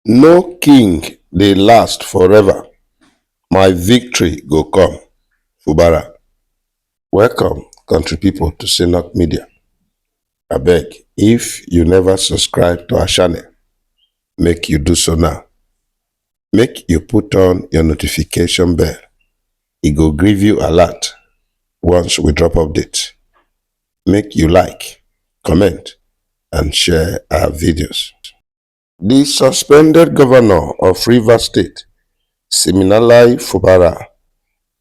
No king dey last forever, my victory go come fubara. Welcome country people to Synnock Media. Abeg if you never subscribe to our channel, make you do so now. Make you put on your notification bell, e go give you alert once we drop update. make you like, comment and share our videos. The suspended governor of River State, Siminalai Fubara,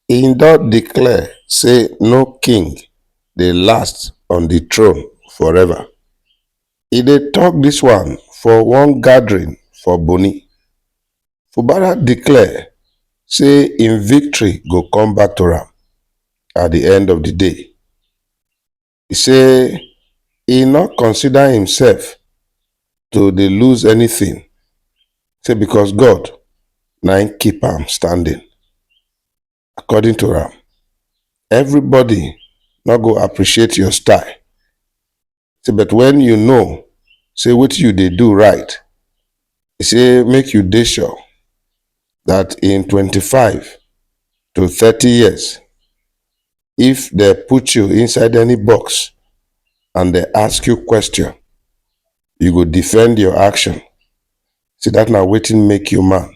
he don declare say no king dey last on the throne forever. He dey talk this one for one gathering for Boni. fubara declare say im victory go come back to am at di end of di day e say e no consider imsef to dey lose anytin say becos god na im keep am standing. According to am, everybody no go appreciate your style. Say, but when you know, say what you they do right, e say make you dey sure that in 25 to 30 years, if they put you inside any box and they ask you question, you go defend your action. See that now waiting make you man.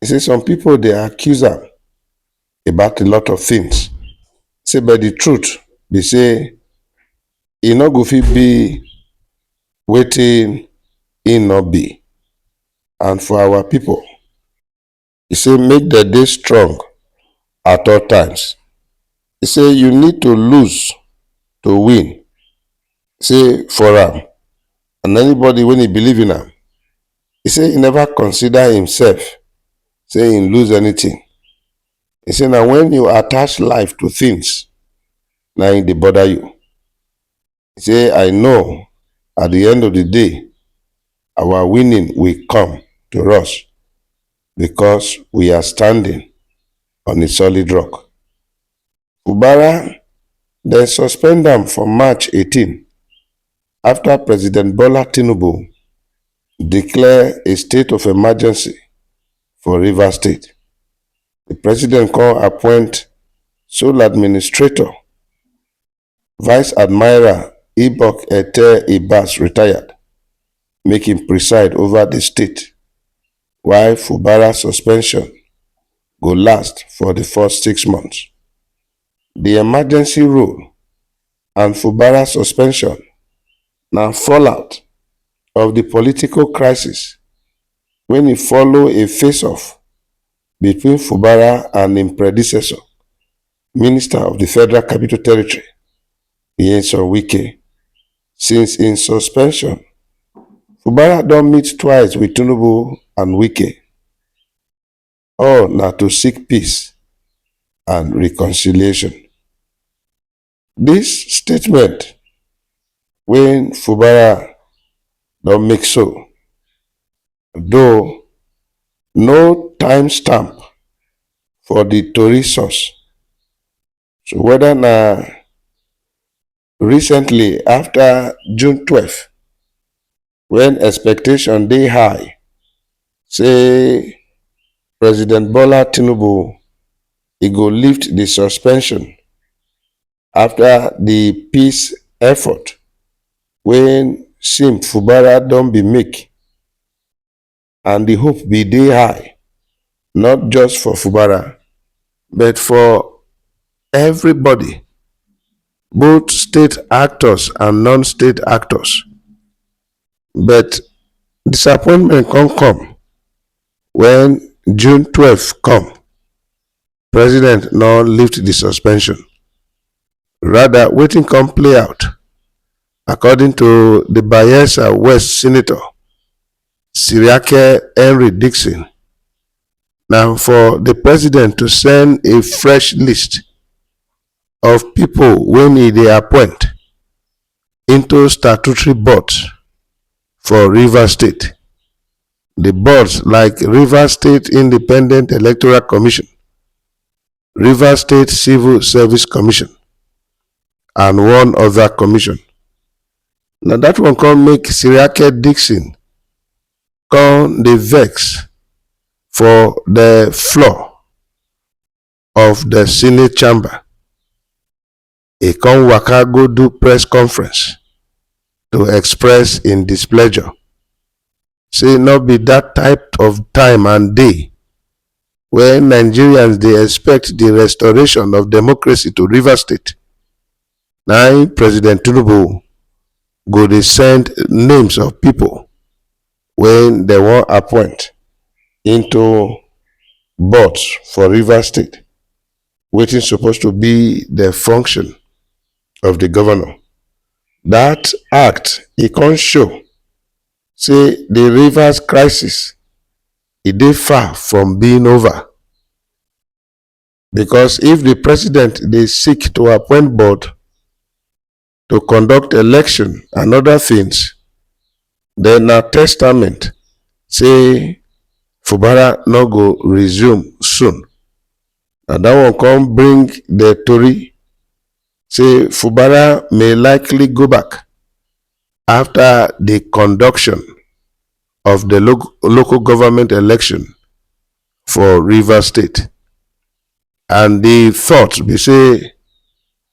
He say some people dey accuse am about a lot of things. Say but the truth be say e no go fit be wetin e no be. And for our people, he say make dem dey strong at all times. He say you need to lose to win. Say for am and anybody when e believe in am, E say e never consider himself say he lose anything. E say na when you attach life to things na e dey bother you. E say I know at the end of the day our winning will come to us because we are standing on a solid rock. Fubara, dem suspend am for March 18 afta President Bola Tinubu declare a state of emergency for Rivers State. Di president come appoint sole administrator, Vice Admiral Ibok Ete Ibas, retired, make im preside ova di state. why Fubara suspension go last for di first six months, di emergency rule and Fubara suspension na fallout of di political crisis wen e follow a face-off between Fubara and im predecessor, Minister of di Federal Capital Territory, Nyesom Wike. Since im suspension, Fubara don meet twice wit Tinubu and Wike, all na to seek peace and reconciliation. Dis statement wey Fubara don make so, though no time stamp for di tori source, so weda na. Recently, after June 12, when expectation dey high, say President Bola Tinubu he go lift the suspension after the peace effort when Sim Fubara don be make. and di hope bin dey high not just for fubara but for evribodi both state actors and non-state actors but disappointment come come wen june twelve come. president no lift di suspension rather wetin come play out according to di bayelsa west senator siriake henry dixon na for di president to send a fresh list of pipo wey e dey appoint into statutory boards for rivers state di boards like rivers state independent electoral commission rivers state civil service commission and one oda commission na dat one come make siriake dixon come dey vex for di floor of di senate chamber e come waka go do press conference to express im displeasure say no be dat type of time and day wey nigerians dey expect di restoration of democracy to rivers state na im president tinubu go dey send names of pipo wey dem wan appoint into boards for rivers state wetin suppose to be the function of the governor. That act e come show say the rivers crisis e dey far from being over because if the president dey seek to appoint board to conduct election and other things. Then na testament say Fubara no go resume soon. And that one come bring the tori say Fubara may likely go back after the conduction of the lo local government election for River State. And the thought be say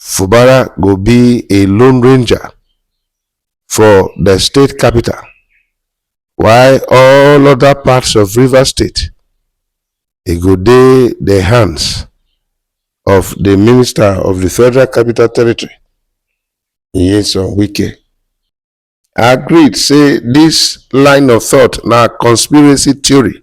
Fubara go be a lone ranger for the state capital, while all other parts of River State e go dey the hands of the minister of the Federal Capital Territory, Nyesom Wike. I agreed say this line of thought na conspiracy theory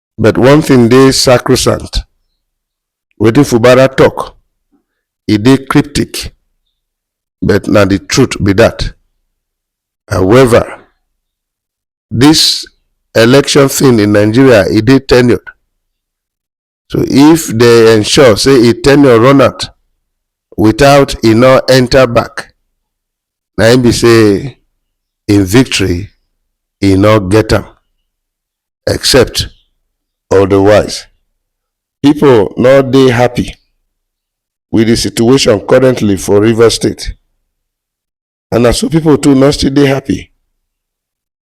But one thing dey sacrosanct. Wetin Fubara talk, e dey cryptic, but na the truth be that. However, this election thing in Nigeria, e dey tenured. So if they ensure say e tenure run out without e no enter back, na im be say im victory e no get am. except odawise. Pipo no dey happy with di situation currently for Rivers state and na so pipo too no still dey happy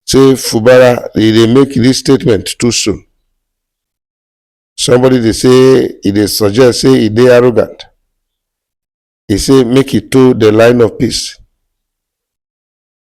say Fubara e dey make dis statement too soon. Somebody dey say e dey suggest say e dey arrogant. E say make e toe di line of peace.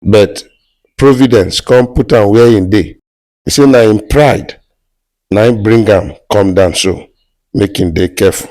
but providence come put am where im dey e say na im pride na im bring am come down so make im dey careful